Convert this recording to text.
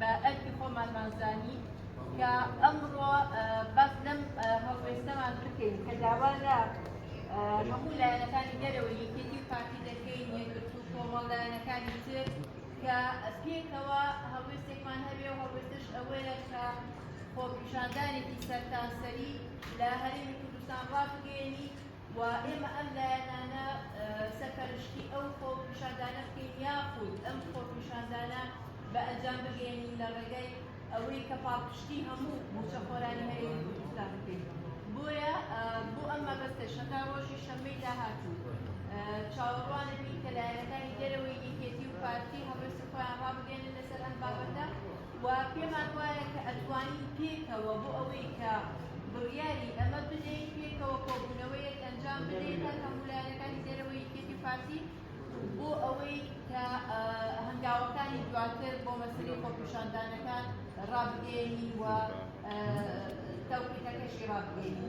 بە ئەرکی خۆمانمان زانی کە ئەمڕۆ باس لەم هەڵوێستەمان بکەین کە داوا لە هەموو لایەنەکانی دەرەوە یەکێتی و پارتی دەکەین یەکگرتو و کۆمەڵ لایەنەکانی تر کە پێکەوە هەڵوێستێکمان هەبێ و هەڵوێستش ئەوەیە کە خۆپیشاندانێکی سەرتاسەری لە هەرێمی کوردستان ڕابگەیەنی و ئێمە ئەم لایەنانە سەرپەرشتی ئەو خۆپیشاندانە بکەین یاخود ئەم خۆپیشاندانە بە ئەنجام بگەیەنین لە ڕێگای ئەوەی کە پاڵپشتی هەموو موچەخۆرانی هەرێمی کوردستان بکەین بۆیە بۆ ئەم مەبەستە شەتا ڕۆژی شەمەی داهاتوو چاوەڕوانەبین کە لایەنەکانی دەرەوەی یەکێتی و پارتی هەڵوێستی خۆیان ڕابگەێنن لەسەر ئەم بابەتە و پێمان وایە کە ئەتوانین پێکەوە بۆ ئەوەی کە بڕیاری ئەمە بدەین پێکەوە کۆبوونەوەیەک ئەنجام بدەین لە هەموو لایەنەکانی دەرەوەی یەکێتی پارتی بۆ ئەوەی کە هەنگاوەکانی دواتر بۆ مەسری خۆپیشاندانەکان ڕابگەێنی و تەوقیتەکەشی ڕابگەێنی